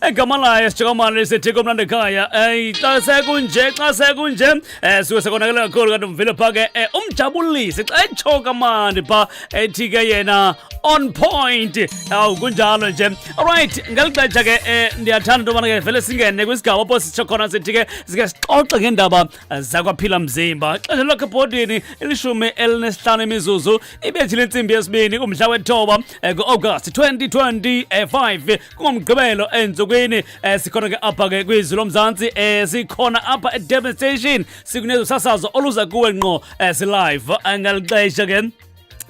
egama layo sijokamane lisithika umlando ekhaya um xa sekunje xa sekunje um eh, suke sekonakele kakhulu kanti umvile pha ke um umjabulisi xa etsho kamandi pha ethi ke yena on point awu kunjalo nje alright ngeli xesha ke um ndiyathanda into yobana ke vele singene kwisigaba apho sitsho khona sithi ke sike sixoxe ngeendaba eh, zakwaphila mzimba xesha lakhe ebhodini ilishumi elinesihlanu imizuzu ibethi lentsimbi yesibini kumhla wethoba ku-agasti 2025 kungomgqibelo ensukwini eh, sikhona ke apha ke kwizwi lomzantsi eh, sikhona apha edurban station sikunezo sasazo oluza kuwe ngqo eh, silive eh, ngalixesha ke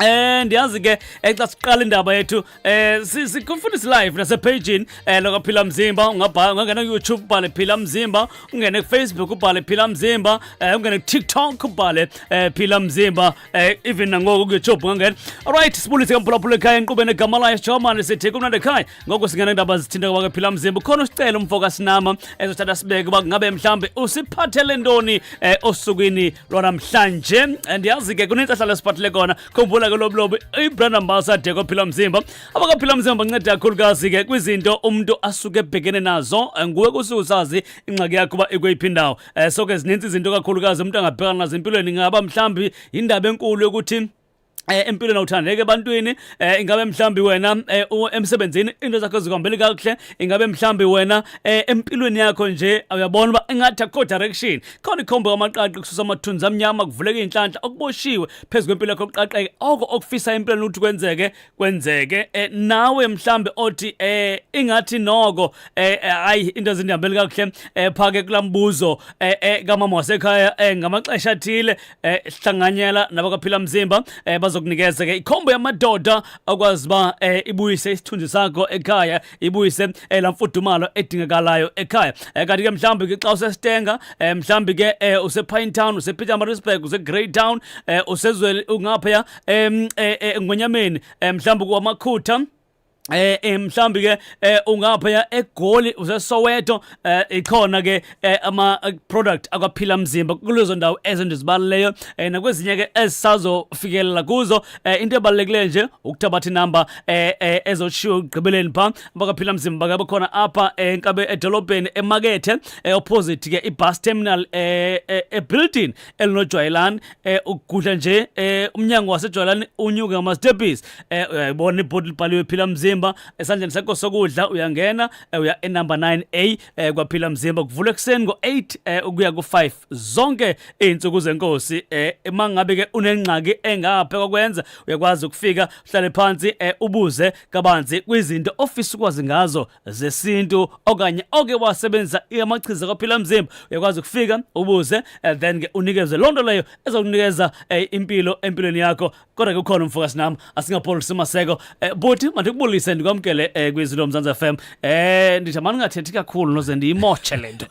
Eh ndiyazi ke eh, xa siqala indaba yethu eh sikufundisa live nase page eh lokho phila mzimba ungabhala ungangena ku YouTube ubhale phila mzimba ungene ku Facebook ubhale phila mzimba eh ungene ku TikTok ubhale eh phila mzimba Eh even nangoku ke job ngangena. Alright sibulise kamphulaphula ekhaya enqubeni egama layo Sijomane sithi kumnandi ekhaya. Ngoku singena indaba zithinta kwake phila mzimba. Khona usicela umfoka sinama ezothatha sibeke uba ngabe mhlambe usiphathele ntoni eh osukwini lona mhlanje. Eh, Ndiyazi ke kunentsahla lesiphathele kona. Khumbula ke loblobo ibrand ambassador kwaphila mzimba. Abakaphila mzimba banceda kakhulukazi ke kwizinto umuntu asuke ebhekene nazo. Eh, Nguwe kusuke usazi ingxaki yakho uba ikweyiphi indawo. eh so ke zininzi izinto kakhulukazi umuntu angabhekana nazo empilweni ngaba mhlambi indaba enkulu yokuthi eh empilweni awuthandeki ebantwini eh ingabe mhlambi wena eh, emsebenzini into zakho zikuhambeli kakuhle ingabe mhlambi wena eh, empilweni yakho nje uyabona uba ingathi akho direction khona ikhombo kamaqaqi kususa amathunzi amnyama kuvuleka inhlanhla okuboshiwe phezulu kwempilo yakho kuqaqeke oko okufisa empilweni ukuthi kwenzeke kwenzeke eh, nawe mhlambe othi eh ingathi noko eh, eh ayi into ezindihambeli kakuhle eh phake kulambuzo eh, eh kamama wasekhaya eh ngamaxesha athile eh sihlanganyela nabakaphila mzimba eh bazokunikeza ke ikhombo yamadoda akwazi ba eh, ibuyise isithunzi sakho ekhaya ibuyise eh, lamfudumalo edingakalayo ekhaya eh, kanti ke mhlambe ke xa usestenga eh, mhlambe ke eh, usePine Town usePetermaritzburg useGreytown eh, usezwe ungapha em eh, eh, ngonyameni eh, mhlawumbe kwamakhutha eh, eh mhlambi ke eh, ungapha ya egoli usesoweto eh, ikhona ke eh, ama eh, product akwaphila mzimba kulezo ndawo ezindizibaleleyo eh, nakwezinye ke esisazofikelela kuzo eh, into ebalulekileyo nje ukuthabatha inamba eh, eh, ezoshiwo ekugqibeleni pha bakaphila mzimba ke bakhona apha eh, enkabe edolobheni emakethe eh, opposite ke ibus terminal eh, eh, ebuilding elinojwayelani eh ukugudla nje eh umnyango wasejwayelani unyuke ngamastepisi eh uyayibona ibhodi libhaliwe phila mzimba esandleni sakho sokudla uyangena eh, uya enumber 9A eh kwaphila mzimba kuvula ekuseni ngo8 eh ukuya ku5 zonke izinsuku zenkosi eh mangabe ke unengxaki engaphe kokwenza uyakwazi ukufika uhlale phansi eh ubuze kabanzi kwizinto ofisa ukwazi ngazo zesintu okanye oke wasebenzisa amachiza kwaphila mzimba uyakwazi ukufika ubuze eh, then ke unikezwe loo nto leyo ezokunikeza eh, impilo empilweni yakho kodwa ke ukhona umfokazi nam asingapholisi maseko eh, buti mandikubulise ndikwamkele eh, kwizinto lomzantsi f m eh, ndithi mani ungathethi kakhulu noze ndiyimotshe le nto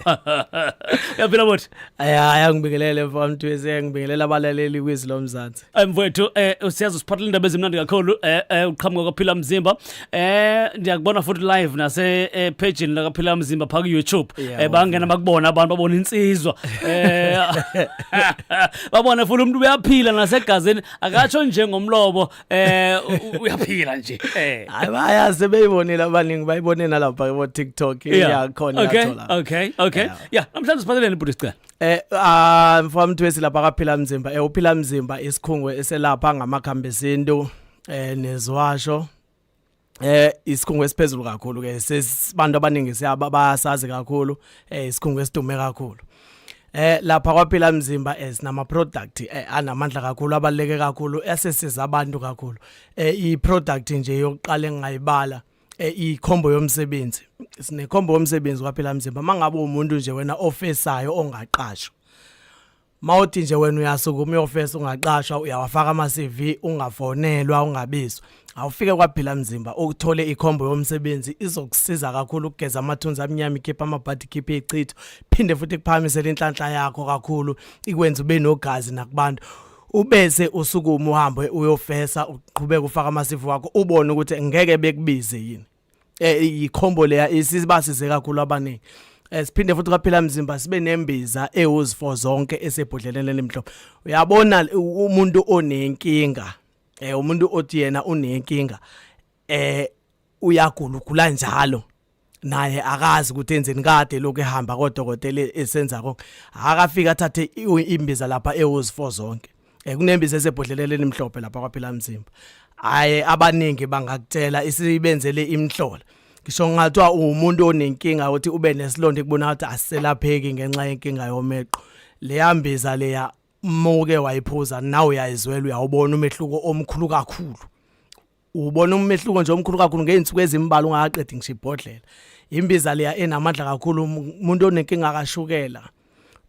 uyaphila buti ayaya ngibikelele mfamthwezi ngibingelela abalaleli kwizwi lomzantsi Eh, mfowethu eh usiyazi usiphathela indaba ezimnandi kakhulu eh, eh uqhamuka kwaphila mzimba eh ndiyakubona futhi live nase eh, page la kaphila mzimba pha ku YouTube eh bangena bakubona abantu babona insizwa eh babona futhi umuntu uyaphila nasegazini akatsho nje ngomlobo eh uyaphila nje eh hayi bayazi beyibonile abaningi bayibone nalapha ku TikTok iyakhona yathola okay okay okay yeah namhlanje siphatheleni bhuti sicela Eh ah mfamthu esilapha kaphila mzimba eh uphila mzimba isikhungo eselapha ngamakhambi esintu eh nezwasho eh isikhungo esiphezulu kakhulu ke sesibantu abaningi siyaba basazi kakhulu eh isikhungo esidume kakhulu eh lapha kwaphila mzimba esinama eh, product eh, anamandla kakhulu abaleke kakhulu esisiza abantu kakhulu eh i product nje yokuqala engayibala eh, ikhombo yomsebenzi sinekhombo yomsebenzi kwaphela mzimba mangabe umuntu nje wena ofesayo ongaqashwa mawuthi nje wena uyasukuma uyofesa ungaqashwa uyawafaka ama CV ungafonelwa ungabizwa awufike kwaphila mzimba ukuthole ikhombo yomsebenzi izokusiza kakhulu ukugeza amathunzi amnyama ikhipha amabhadi ikhiphe ichitho phinde futhi kuphakamisele inhlanhla yakho kakhulu ikwenza ube nogazi nakubantu ubese usukuma uhambe uyofesa uqhubeka ufaka amasifu wakho ubone ukuthi ngeke bekubize yini eh ikhombo leya isibasize kakhulu abaningi eh, siphinde futhi kwaphela mzimba sibe nembiza ewuzifo zonke esebhodleleni elimhlophe uyabona umuntu onenkinga eh umuntu othi yena unenkinga eh uyagula ugula njalo naye akazi ukuthi enzeni kade lokho ehamba kodokotela esenza konke akafika athathe imbiza lapha ewuzifo zonke eh, kunembiza esebhodleleni elimhlophe lapha kwaphila mzimba aye abaningi bangakutshela isibenzele imhlola ngisho ngathiwa umuntu onenkinga ukuthi ube nesilonda ekubona ukuthi aselapheki ngenxa yenkinga yomeqo leyambiza leya muke wayiphuza nawe uyayizwela uyawubona umehluko omkhulu kakhulu ubona umehluko nje omkhulu kakhulu ngey'nsuku ezimbalwa ungakaqedi ngisho ibhodlela imbiza leya enamandla kakhulu umuntu onenkinga kashukela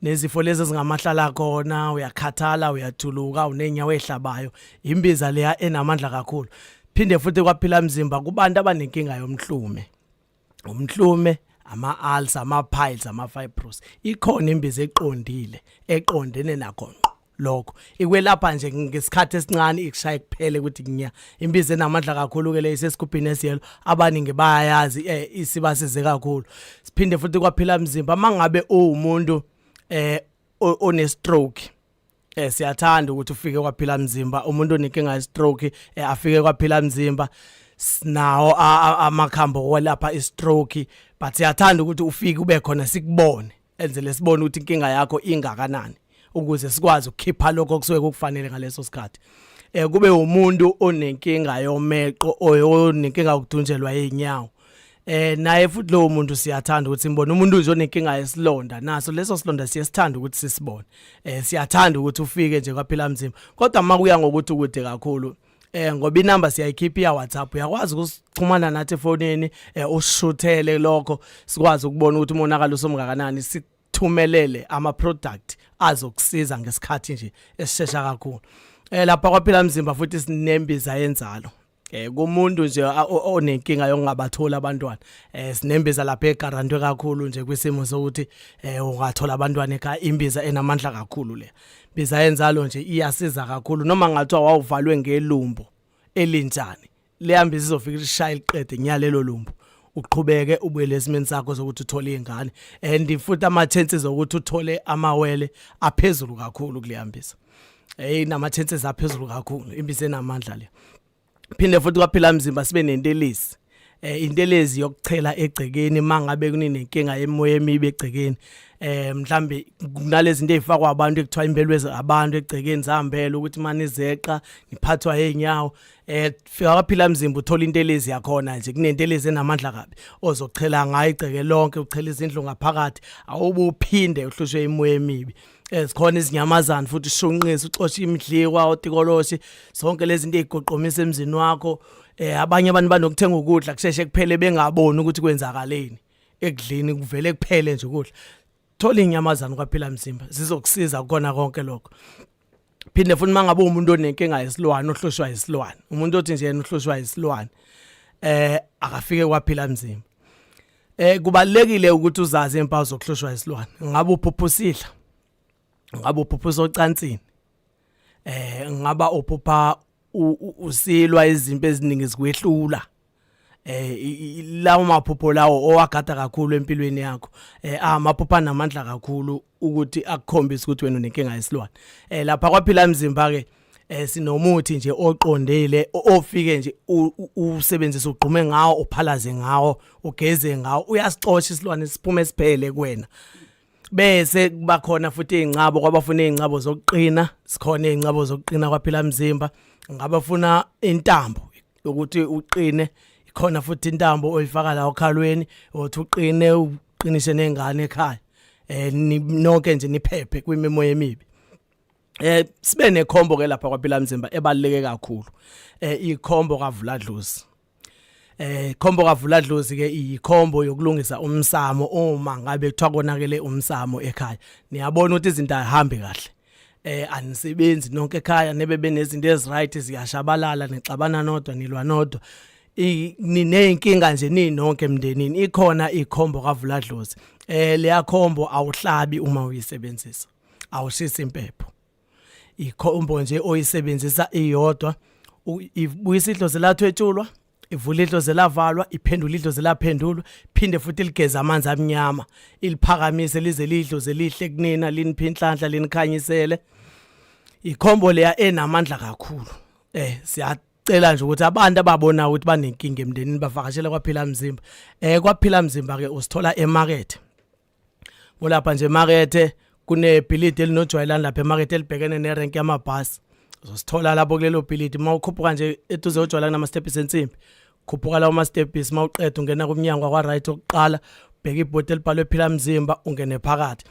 nezifo lezi ezingamahlala khona uyakhathala uyathuluka unenyawo ehlabayo imbiza leya enamandla kakhulu phinde futhi kwaphila mzimba kubantu abanenkinga yomhlume umhlume ama-ulcer ama-piles ama-fibros ikhona imbiza eqondile eqondene nakho ngqo lokho ikwelapha nje ngesikhathi esincane ikushaye kuphele ukuthi ngiya imbiza enamandla kakhulu ke le isesigubhini esiyelo abaningi bayayazi eh, isibasize kakhulu siphinde futhi kwaphila mzimba mangabe uwumuntu eh one stroke eh siyathanda ukuthi ufike kwaphila mzimba umuntu onekinga ye stroke eh afike kwaphila mzimba sinawo amakhambo kwelapha i stroke but siyathanda ukuthi ufike ube khona sikubone enze lesibone ukuthi inkinga yakho ingakanani ukuze sikwazi ukukhipha lokho okusuke kukufanele ngaleso sikhathi eh kube umuntu onenkinga yomeqo oyonenkinga ukudunjelwa inyawo eh naye futhi lowo muntu siyathanda ukuthi simbone umuntu nje onenkinga yesilonda naso leso silonda siyesithanda ukuthi sisibone eh siyathanda ukuthi ufike nje kwaphila mzimba kodwa makuya ngokuthi ukude kakhulu eh ngoba inamba siyayikhipha ya WhatsApp uyakwazi ukuxhumana nathi efonini eh ushuthele lokho sikwazi ukubona ukuthi umonakalo usomngakanani sithumelele ama product azokusiza ngesikhathi nje esishesha kakhulu eh lapha kwaphila mzimba futhi sinembiza yenzalo eh kumuntu nje onenkinga yokungabatholi abantwana eh sinembeza lapha egarantwe kakhulu nje kwisimo sokuthi eh ungathola abantwana ekhaya imbiza enamandla kakhulu le biza yenzalo nje iyasiza kakhulu noma ngathiwa wawuvalwe ngelumbo elinjani leyambi sizofika ishaya liqede nyalelo lumbu uqhubeke ubuyele esimeni sakho sokuthi uthole ingane and futhi ama chances okuthi uthole amawele aphezulu kakhulu kuleyambisa hey namathense zaphezulu kakhulu imbiza enamandla le phinde futhi kwaphila mzimba sibe nentelezi eh intelezi yokuchela egcekeni mangabe kuninenkinga emoya emibe egcekeni eh mhlambe kunalezi zinto ezifakwa abantu ekuthiwa imbelwezi abantu egcekeni zihambele ukuthi mani zeqa niphathwa enyawo eh fika kwaphila mzimba uthola intelezi yakhona nje kunentelezi enamandla kabi ozochela ngayo igceke lonke uchela izindlu ngaphakathi awubuphinde uhlushwe imoya emibi eh, eh sikhona izinyamazana futhi ushunqisa uxosha imidliwa otikoloshi zonke lezi zinto ezigoqomisa emzini wakho eh abanye abantu banokuthenga ukudla kusheshe kuphele bengaboni ukuthi kwenzakaleni ekudleni kuvele kuphele nje ukudla thola inyamazana kwaphila mzimba zizokusiza kukona konke lokho phinde futhi mangabe umuntu onenkinga yesilwane ohlushwa isilwane umuntu othi nje yena uhlushwa isilwane eh akafike kwaphila mzimba eh kubalekile ukuthi uzazi impawu zokuhlushwa isilwane ngabe uphuphusidla ngabe uphuphusa ocansini eh ngaba uphupha usilwa izimpi eziningi zikwehlula eh lawo maphupho lawo owagada kakhulu empilweni yakho eh amaphupha namandla kakhulu ukuthi akukhombise ukuthi wena unenkinga yesilwane eh lapha kwaphila mzimba ke eh sinomuthi nje oqondile ofike nje usebenzisa ugqume ngawo uphalaze ngawo ugeze ngawo uyasixosha isilwane siphume siphele kuwena bese kuba khona futhi izincabo kwabafuna izincabo zokuqina sikhona izincabo zokuqina kwaphila mzimba ngabafuna intambo ukuthi uqine ikhona futhi intambo oyifaka la okhalweni othi uqine uqinise nengane ekhaya eh nonke nje niphephe kwimemo yemibi eh sibe nekhombo ke lapha kwaphila mzimba ebaluleke kakhulu eh ikhombo kavula dlozi eh khombo kavula dlozi ke iyikhombo yokulungisa umsamo uma ngabe kuthiwa konakele umsamo ekhaya niyabona ukuthi izinto azihambi kahle eh anisebenzi nonke ekhaya nebe benezinto eziright ziyashabalala nixabana nodwa nilwa nodwa nineyinkinga nje ninonke emndenini ikhona ikhombo kavula dlozi eh leyakhombo awuhlabi uma uyisebenzisa awushisa impepho ikhombo nje oyisebenzisa iyodwa ibuyisa idlozi lathwetshulwa ivula idlozi lavalwa iphendula idlozi laphendulwa phinde futhi ligeza amanzi amnyama iliphakamise lize lidlozi lihle kunina liniphi inhlanhla linikhanyisele ikhombo leya enamandla kakhulu eh siyacela nje ukuthi abantu ababona ukuthi banenkinga emndenini bavakashele kwaphila mzimba eh kwaphila mzimba ke usithola emarket ngolapha nje emakethe kunebhilidi elinojwayelani lapha emakethe elibhekene nerenki yamabhasi uzosithola lapho kulelo bhilidi uma ukhuphuka nje eduze ojwayela kunamastebhisi ensimbi khuphuka lawo mastebhisi uma uqeda ungena kumnyango wakwa-right okuqala bheka ibhodi elibhalwe phila mzimba ungene phakathi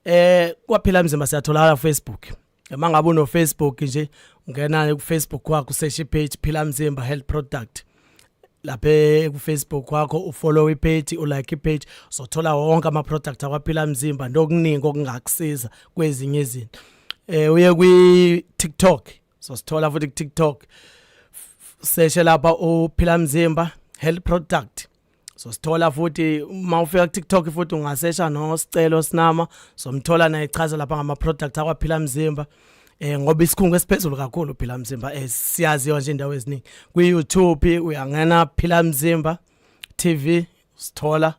eh kwaphila mzimba siyatholakala Facebook uma ngabe unofacebook nje ungena kufacebook wakho useshe ipage phila mzimba health product lapha kufacebook wakho ufollow ipage ulike ipage uzothola wonke ama-product akwaphila mzimba nokuningi okungakusiza kwezinye izinto um uye kwi-tiktok sosithola futhi ku-tiktok seshe lapha uphila mzimba health product so sithola futhi uma ufika ku TikTok futhi ungasesha no sicelo sinama somthola naye chaza lapha ngama product akwaphila mzimba eh ngoba isikhungo esiphezulu kakhulu phila mzimba eh siyazi yonke indawo eziningi ku YouTube uyangena phila mzimba TV sithola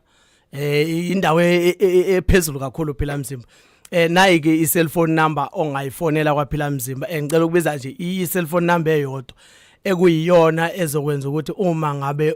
eh indawo e, e, e, ephezulu kakhulu phila mzimba eh nayi ke i-cellphone number ongayifonela kwaphila mzimba eh, ngicela ukubiza nje i-cellphone number eyodwa ekuyiyona ezokwenza ukuthi uma ngabe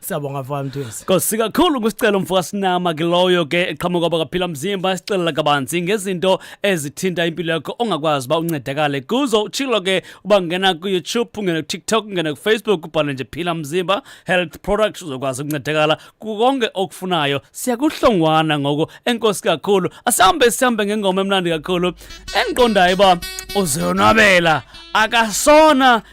Siyabonga mfana Mthwesi. Nkosi kakhulu kusicelo mfoka sinama ke loyo ke eqhamuka bakaphila mzimba sicelela kabanzi ngezinto ezithinta impilo yakho ongakwazi ba uncedakale kuzo uchilo ke ubangena ku YouTube ungena ku TikTok ungena ku Facebook ubhale nje phila mzimba health products uzokwazi ukuncedakala kukonke okufunayo siyakuhlongwana ngoko enkosi kakhulu asihambe sihambe ngengoma emnandi kakhulu engiqondayo ba uzonwabela akasona